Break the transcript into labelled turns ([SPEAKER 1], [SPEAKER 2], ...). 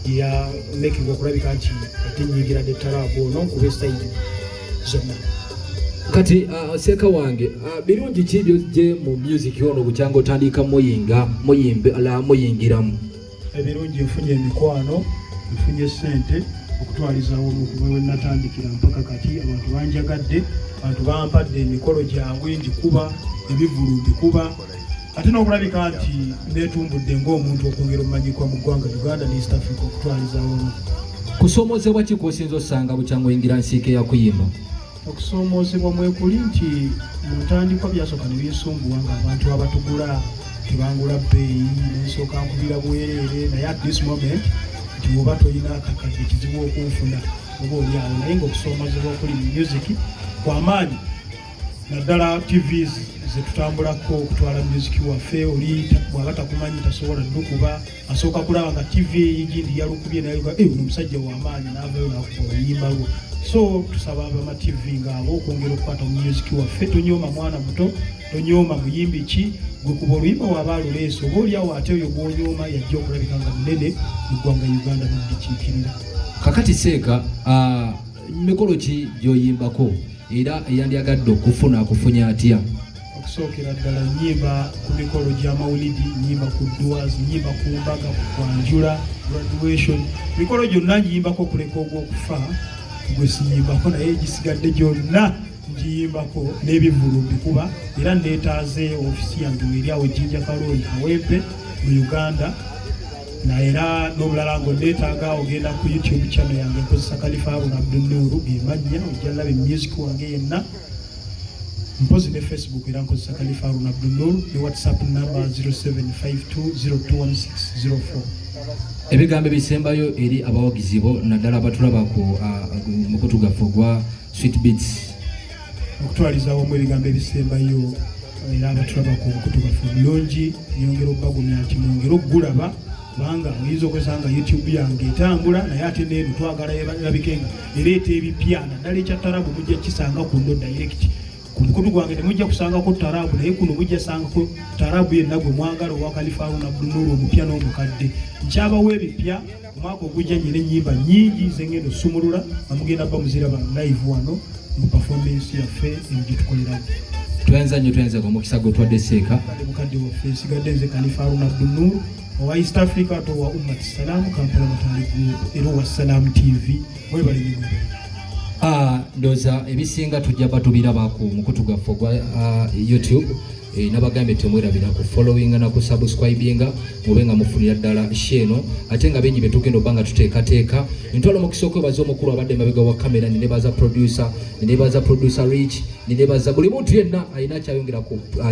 [SPEAKER 1] ya making okulabika nti ate nyingira ne taraabu ono nkuba esayidi zonna
[SPEAKER 2] kati uh, seeka wange uh, birungi ki byojje mu music ono bukyanga otandika muyinga muyimbe ala muyingiramu ebirungi
[SPEAKER 1] nfunye emikwano nfunye sente okutwalizawo omukuba we natandikira mpaka kati abantu banjagadde abantu bampadde emikolo gyabwe ngikuba ebivulu mbikuba ate n'okulabika nti neetumbudde ng'omuntu okwongera omumanyikwa mu ggwanga uganda ne east africa okutwaliza wamu kusoomoozebwa
[SPEAKER 2] ki kwosinza osanga bukyanga oyingira nsiike ya kuyimba okusoomoozebwa
[SPEAKER 1] mwekuli nti mu ntandikwa byasooka ne binsumbuwa nga abantu abatugula tebangula bbeeyi nensooka nkubira bwereere naye at this moment nti woba tolina kakati ekizibu okunfuna oba olyawo naye ngaokusoomoozebwa okuli mu music kwamaanyi naddala tv zetutambulako okutwala muziki waffe oli bwaba takumanyi tasobola dukuba asooka kulaba nga tv eyigindi yalukubye naye eh, ono omusajja wamaanyi navayo nakuba oluyimba lwo so tusaba abama tv ngaabo okwongera okukwata mu muziki waffe tonyooma mwana muto tonyooma muyimbi ki gwekuba oluyimba waba aluleesa oba oliawo ate oyo gwonyooma yajja okulabika nga munene mu ggwanga uganda nodikiikirira kakati
[SPEAKER 2] seeka uh... mikolo ki gyoyimbako era eyandyagadde okufuna akufunye atya okusookera
[SPEAKER 1] ddala nyimba ku mikolo gya mawulidi nyimba ku duas nyimba ku mbaga ku kwanjula graduation mikolo gyonna ngiyimbako okuleka ogwokufa gwe siyimbako naye gisigadde gyonna ngiyimbako n'ebivulu mbikuba era neetaaze ofisi yange eri awo ejjinja kalooli awempe mu uganda na era n'obulala nga onneetaaga ogenda ku youtube channel yange nkozesa kalifa abuna abdunnuuru gemannya ojja laba emusic wange yenna mpozi ne facebook era nkozesa kalifa arun abdunnuuru ne whatsapp number 0752021604
[SPEAKER 2] ebigambo ebisembayo eri abawagizi bo naddala abatulaba ku uh, mukutu gaffe ogwa Sweet Beats okutwaliza
[SPEAKER 1] awamu ebigambo ebisembayo era abatulaba ku nkutu baffe omulungi nyongera okubagumya nti mwongere okugulaba kubanga oyinza okwesanga youtube yange etambula naye ate neeno twagala erabikenga ereeta ebipya naddala ekya tarabu mujja kisanga ku ndo direct ku mukutu gwange temujja kusangako tarabu naye kuno mujja sangako tarabu yenna gwe mwagala owa kalifaawo nabdunulu omupya n'omukadde nkyabawo ebipya omwaka ogujja nyina enyimba nyingi zengendo sumulula amugenda ba muzira ba live wano mu performance yaffe emugyetukoleramu twenza nyo
[SPEAKER 2] twenze ku mukisa gwe twadde seeka mukadde waffe
[SPEAKER 1] sigadde nze kalifa aruna abdunur owa east africa to wa ummat salam kampala matali group era owa salam tv webale nyo ah,
[SPEAKER 2] ndoza ebisinga tujja batubirabaku mukutu gwaffe ogwa ah, youtube Eh, nabagambye temwerabira ku followinga na ku subscribinga mube nga mufunira ddala sheeno ate nga bingi byetugenda obba nga tuteekateeka ntwala omukisa okwebaza omukulu abadde mabega wa kamera ninebaza producer ninebaza producer rich ninebaza buli muntu yenna alina akyayongera ku uh,